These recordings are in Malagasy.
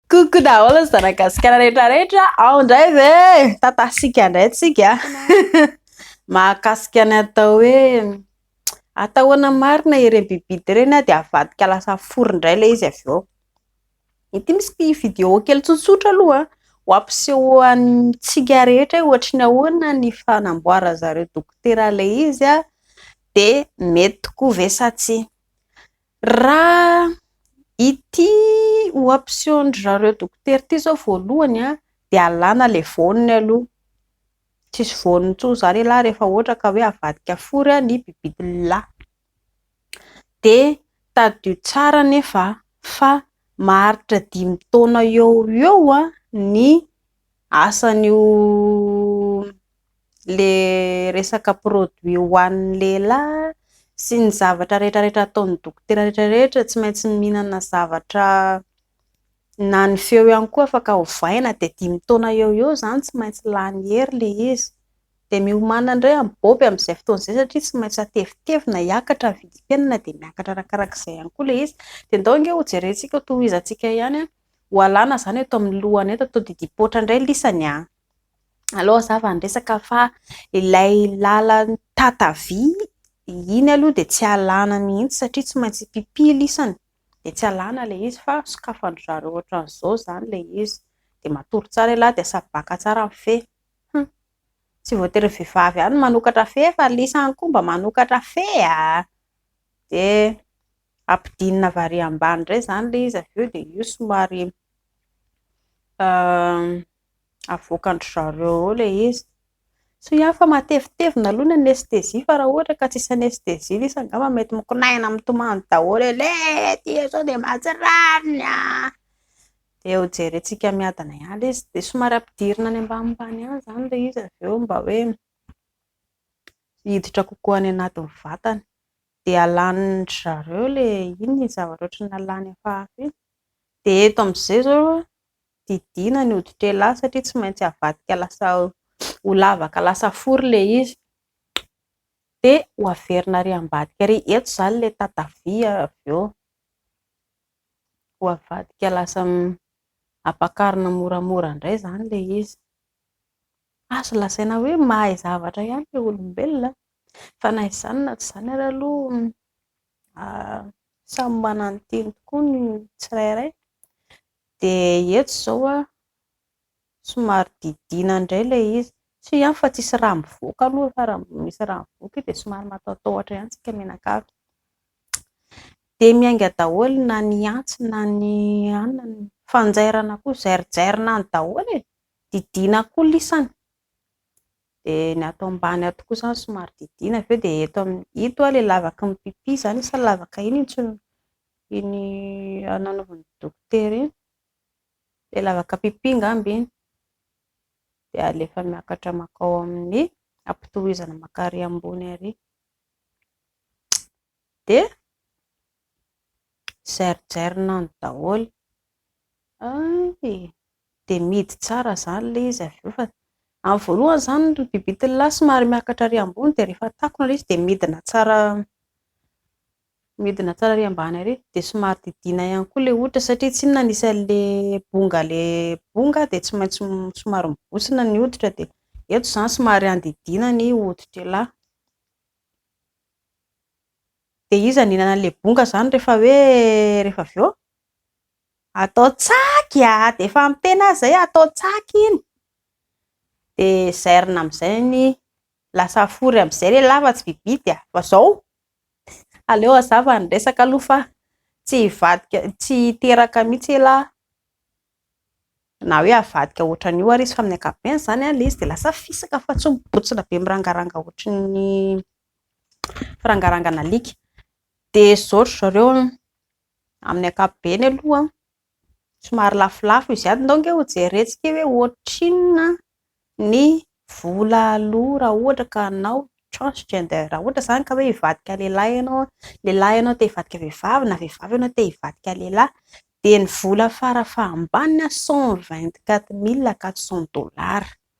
Coucou daholo ny zanagasikara rehetra rehetra ao ndray ve tatasika ndray tsika mahakasika ny atao hoe atao ahoana marina ireny bibibidy ireny ah de avadika lasa fory ndray le izy avy eo ity misy video kely tsotsotra aloha ho ampisehoantsika rehetra ohatry ny ahoana ny fanamboara zareo dokotera le izy ah de mety tokoa ve sa tsia Raha ity oaption-dry zareo dokotera ity izao voalohany dia alana ilay voany aloha, tsisy voany intsony izany elah rehefa ohatra ka hoe avadika fory ny bibit'la, dia tadidio tsara anefa fa maharitra dimy taona eo ho eo ny asan'io le resaka produit ho an'ny lehilahy sy ny zavatra rehetra rehetra ataon'ny dokotera rehetra rehetra tsy maintsy mihinana zavatra na ny feo ihany koa afaka hovaina dia dimy taona eo eo izany tsy maintsy lany hery le izy dia miomana indray am-bôby amin'izay fotoana izay satria tsy maintsy hatevitevina hiakatra ny vidim-piainana dia miakatra arakaraka izay ihany koa le izy dia ndao ange ho jerentsika ho tohizantsika ihany an ho alana izany eto amin'ny lohana eto atao didipoitra indray lisany an aloha za vao niresaka fa ilay lalan-tata-vy iny aloha dia tsy alàna mihitsy satria tsy maintsy mpipily isany dia tsy alàna ilay izy fa sokafan-dry zareo ohatran'izao izany ilay izy dia matory tsara ialahy dia sabaka tsara ny fe, hum, tsy voatery ny vehivavy ihany no manokatra fe fa ilay izy ihany koa mba manokatra fe a! dia ampidinina avy ary ambany indray izany ilay izy avy eo dia io somary Avoakan-dry zareo ao ilay izy. Soa ihany fa matevitevina aloha ny anesthésie fa raha ohatra ka tsisy anesthésie ilay izy angamba mety mikonaina mitomany daholo eo eh! Ity izao dia mahatsiravina e! Dia hojerentsika miadana ihany ilay izy. Dia somary ampidirina any ambanimbany any izany ilay izy avy eo mba hoe hiditra kokoa any anatin'ny vatany. Dia alanin-dry zareo ilay, inona iny zavatra hoatran'ny nalany hafahafa iny? Dia eto amin'izay izao didiana ny hoditr'elah satria tsy maintsy avadika lasa ho lavaka lasa fory ilay izy dia ho averina ary ambadika ary eto izany ilay tatavia avy eo ho avadika lasa ampakarina moramora indray izany ilay izy azo lazaina hoe mahay zavatra ihany ilay olombelona fa na izany na tsy izany ary aloha samy manana ny tiany tokoa ny tsirairay Dia eto izao an, somary didiana indray ilay izy. Tsy hoe ihany fa tsisy rà mivoaka aloha fa raha misy rà mivoaka io dia somary mataotaotra ihany tsika mianakavy. Dia miainga daholo na ny antsy na ny anona ny fanjairana koa zairijairinany daholo e! Didiana koa lisany. dia ny ato ambany ato koa izany somary didiana avy eo dia eto amin'ny ito ilay lavaky ny pipi izany sa lavaka iny intsony iny nanaovan'ny dokotera iny? ilay lavaka pipi angamba iny dia alefa miakatra mankao amin'ny ampitohizana maka ary ambony ary dia Zairijairinao ny daholo, hay e! dia mihidy tsara izany ilay izy avy eo fa amin'ny voalohany izany ilay bibitiny lahy somary miakatra ary ambony dia rehefa takona ilay izy dia midina tsara midina tsara ary ambany ary, dia somary didiana ihany koa ilay hoditra satria tsy inona ny isan'ilay bonga ilay bonga dia tsy maintsy somary mibontsina ny hoditra dia eto izany somary andidiana ny hoditr'ilahy Dia iza no hihinana an'ilay bonga izany rehefa hoe rehefa avy eo? Atao tsaky a! Dia efa amin'ny tena aza hoe atao tsaky iny. Dia zairina amin'izay ny lasa fory amin'izay re lava tsy vibidy a! Fa izao aleo hazava ny resaka aloha fa tsy hivadika tsy hiteraka mihitsy elah na hoe havadika ohatran'io ary izy fa amin'ny ankapobeny izany ilay izy dia lasa fisaka fa tsy mibontsina be mirangaranga ohatry ny firangarangana alika. Dia zao ry zareo amin'ny ankapobeny aloha somary lafolafo izy ato, ndao ange ho jerentsika hoe ohatrinona ny vola aloa raha ohatra ka hanao transgender, raha ohatra izany ka hoe hivadika lehilahy ianao, lehilahy ianao te hivadika vehivavy na vehivavy ianao te hivadika lehilahy dia ny vola fara fahabaniny cent vingt quatre mille quatre cent dollars.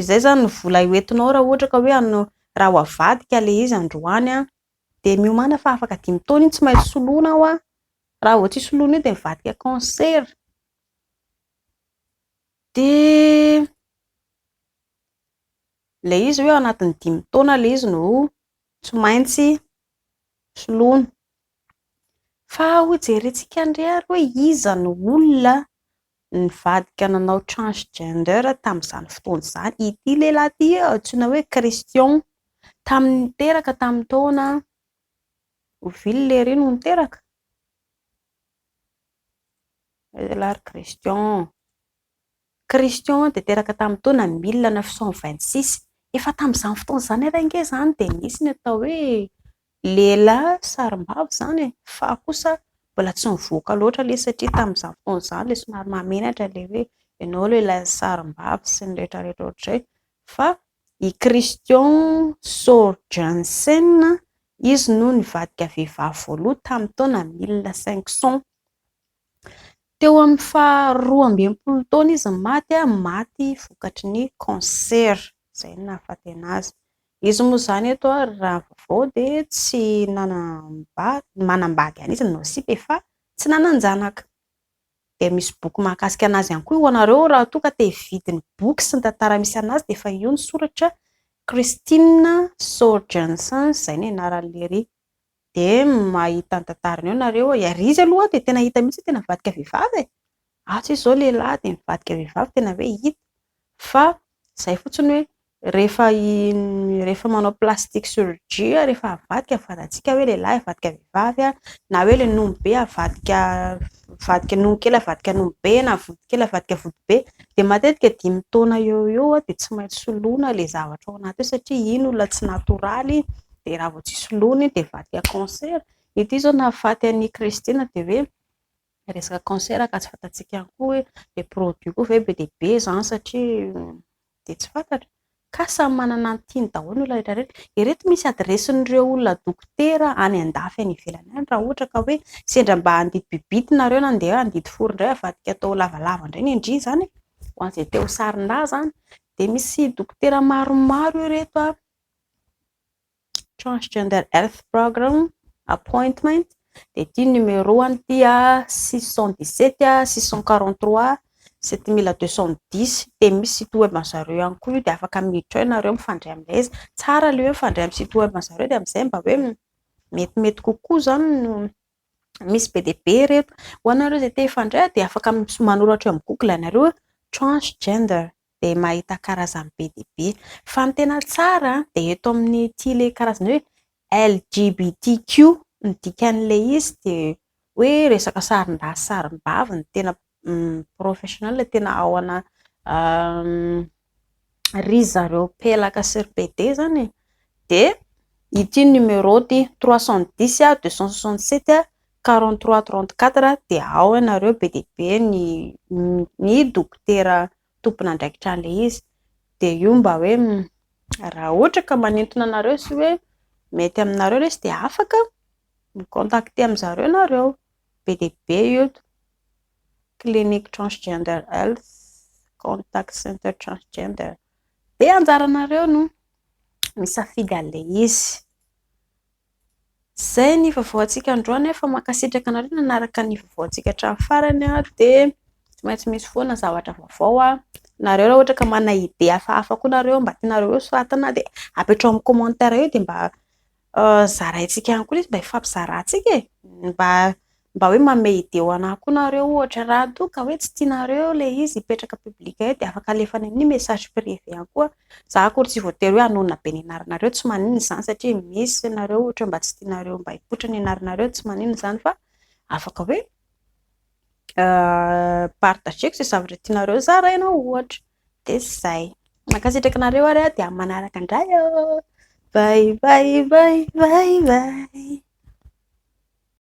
Izay izany no vola hoentinao raha ohatra ka hoe hanao raha ho avadika ilay izy androany dia miomàna fa afaka dimy taona iny tsy maintsy soloina aho an! raha vao tsy soloina io dia mivadika cancer dia ilay izy hoe ao anatin'ny dimy taona ilay izy no tsy maintsy soloina. Fa hojerentsika indray ary hoe iza no olona nivadika nanao transgender tamin'izany fotoana izany. Ity lehilahy ity antsoina hoe Christian. Tamin'ny niteraka tamin'ny taona avril iry no niteraka. Lehilahy ry Christian. Christian dia teraka tamin'ny taona mille neuf cent vingt-six. Efa tamin'izany fotoana izany ary ange izany dia nisy ny atao hoe lehilahy sarimbavy izany e! fa kosa mbola tsy nivoaka loatra ilay izy satria tamin'izany fotoana izany ilay somary mahamenatra ilay hoe ianao lehilahy sarimbavy sy ny rehetra rehetra ohatr'izay fa i Christian Soorjansen izy no nivadika vehivavy voalohany tamin'ny taona mille cinq cent. Teo amin'ny faha roa amby enimpolo taona izy no maty, maty vokatry ny cancer, izay no nahafaty an'azy. Izy moa izany eto ary raha vaovao dia tsy nanambady, manambady ihany izy nanao sipa e! fa tsy nanan-janaka. Dia misy boky mahakasika an'azy ihany koa ho anareo raha toa ka te hividy ny boky sy ny tantara misy an'azy dia efa io ny soratra Christine Sour Jensen izay no anaran'ilay Dia mahita ny tantarany eo nareo e! Ary izy aloha dia tena hita mihitsy hoe tena mivadika vehivavy e! Asa izy izao lehilahy dia mivadika vehivavy tena hoe hita! Fa izay fotsiny hoe rehefa rehefa manao plastic surgie aho rehefa avadika fatatsika hoe lehilahy avadika vehivavy aho na hoe ilay nony be avadika avadika nony kely avadika nony be na vody kely avadika vody be dia matetika dimy taona eo eo aho dia tsy maintsy soloina ilay zavatra ao anaty ao satria iny olona tsy natoraly dia raha vao tsy soloina iny dia vaky à concert, ity zao nahafaty an'i Christine dia hoe resaka concert ka tsy fantatsika ihany koa hoe le produit koa ve be dia be zany satria dia tsy fantatra, ka samy manana ny tiany daholo ny olona rehetra rehetra, ireto misy adiresin'ireo olona dokotera any andafy any ivelany any raha ohatra ka hoe sendra mba handidy bibity nareo na ndeha handidy fo indray avadika atao lavalava indray ny ndry zany e! ho an'izay te ho sarindaza any dia misy dokotera maromaro ireto an! Transgender Health Program Appointment dia ity ny numéro any ity six cent dix sept six cent quarante trois sept mille deux cent dix dia misy site web an-dry zareo ihany koa io dia afaka miditra ao ianareo mifandray amin'ilay izy, tsara aloha hoe mifandray amin'ny site web an-dry zareo dia amin'izay mba hoe metimety kokoa izany no misy be dia be ireto, ho anareo izay te hifandray dia afaka manoratra eo amin'ny google ianareo hoe transgender. dia mahita karazany be dia be. Fa ny tena tsara dia eto amin'ity ilay karazana hoe LGBTQ ny dikan'ilay izy dia hoe resaka sarindahy sy sarimbavy ny tena professional, ny tena ao ana ry zareo pelaka sy ry pede izany e! dia ity numéro ity trois cent dix deux cent soixante sept quarante trois trente quatre dia ao ianareo be dia be ny ny dokotera tompon'andraikitra an'ilay izy, dia io mba hoe raha ohatra ka manintona anareo sy hoe mety aminareo ilay izy dia afaka mi-contacter amin'ny zareo ianareo, be dia be io eto, clinique transgender health, contact center transgender, dia anjaranareo no misafidy an'ilay izy. Izay ny vaovao antsika androany an, fa mankasitraka anareo nanaraka ny vaovao antsika hatramin'ny farany an, dia tsy maintsy misy foana zavatra vaovao an, nareo raha ohatra ka manana idée hafahafa koa nareo mba tianareo ho soratana dia apetrao amin'ny commentaire eo dia mba zaraintsika ihany koa izy mba hifampizarantsika e! mba Mba hoe mamehy idée ho anah koa nareo ohatra raha toa ka hoe tsy tianareo le izy hipetraka public eo de afaka alefany amin'ny message privé ihany koa za akory tsy voatery hoe hanonona be ny anaranareo tsy maninona izany satria misy nareo ohatra mba tsy tianareo mba hipoitra ny anaranareo tsy maninona izany fa afaka hoe partageko izay zavatra tianareo zaraina ohatra de zay mankasitraka anareo ary aho de amin'ny manaraka indray oo vay vay vay vay vay